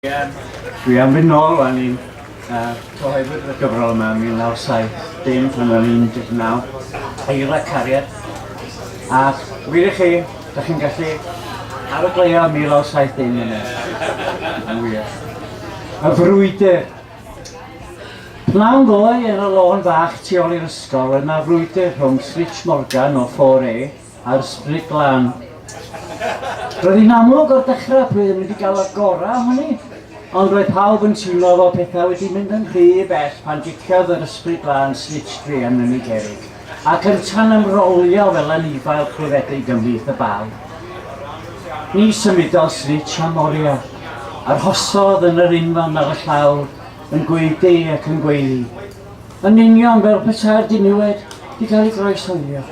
Dwi am fynd nôl rwan i'n cyhoeddwyd y gyfrol yma yn 1970 pan o'n i'n 19, Eira Cariad, a wir i chi, da chi'n gallu arogleio 1970 yna, yn wir. Y frwydr! Pnawn ddoe yn y lôn fach tu ôl i'r ysgol, oedd 'na frwydr rhwng Switch Morgan o 4A A'r sbri glân. Roedd hi'n amlwg o'r dechrau pwy oedd mynd i gael y gorau ohoni, ond roedd pawb yn teimlo fel pethau wedi mynd yn rhy bell pan giciodd yr ysbri glân snitch druan yn ei gerrig, ac yntau'n ymrolio fel anifail clefedig ymhlith y bal. Ni symudodd Snitch a Moria. Arhosodd yn yr unfan ar y llawr, yn gwaedu ac yn gweiddi. Yn union fel petai'r diniwed di cael ei groesawio.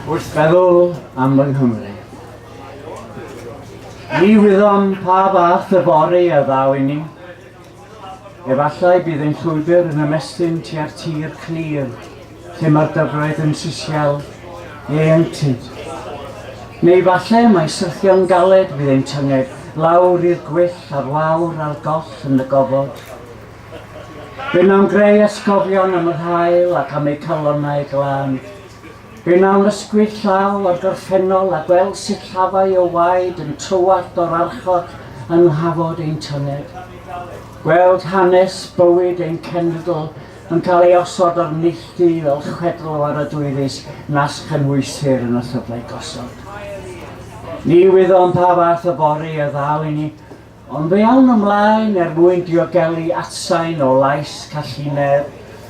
Wrth feddwl am fy Nghymru. Ni wyddom pa fath y bori a ddaw inni. Efallai bydd ein llwybr yn ymestyn tua'r tir clir, lle mae'r dyfroedd yn sisial ieuenctid. Neu efallai mae syrthio'n galed fydd ein tynged lawr i'r gwyll a'r wawr a'r goll yn y gofod. Fe wnawn greu atgofion am yr haul ac am eu calonnau glân. Yn annisgwyl llaw a gorffennol a gweld sillafau o waed yn tywallt o'r archod yng nghafod ein tynned. Gweld hanes bywyd ein cenedl yn cael ei osod o'r neilltu fel chwedl o aradwyddus nas chynhwysir yn y llyfrau gosod. Ni wyddom pa fath o fory a ddaw i ni, Ond fe awn ymlaen er mwyn diogelu atsain o lais Callinedd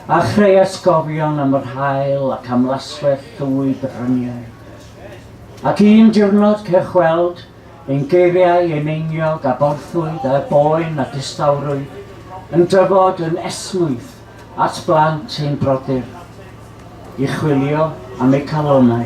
a chreu atgofion am yr haul ac am laswellt llwyd y bryniau. Ac un diwrnod cewch weld ein geiriau, ein einiog a borthwyd â boen a distawrwydd yn dyfod yn esmwyth at blant ein brodyr i chwilio am eu calonnau.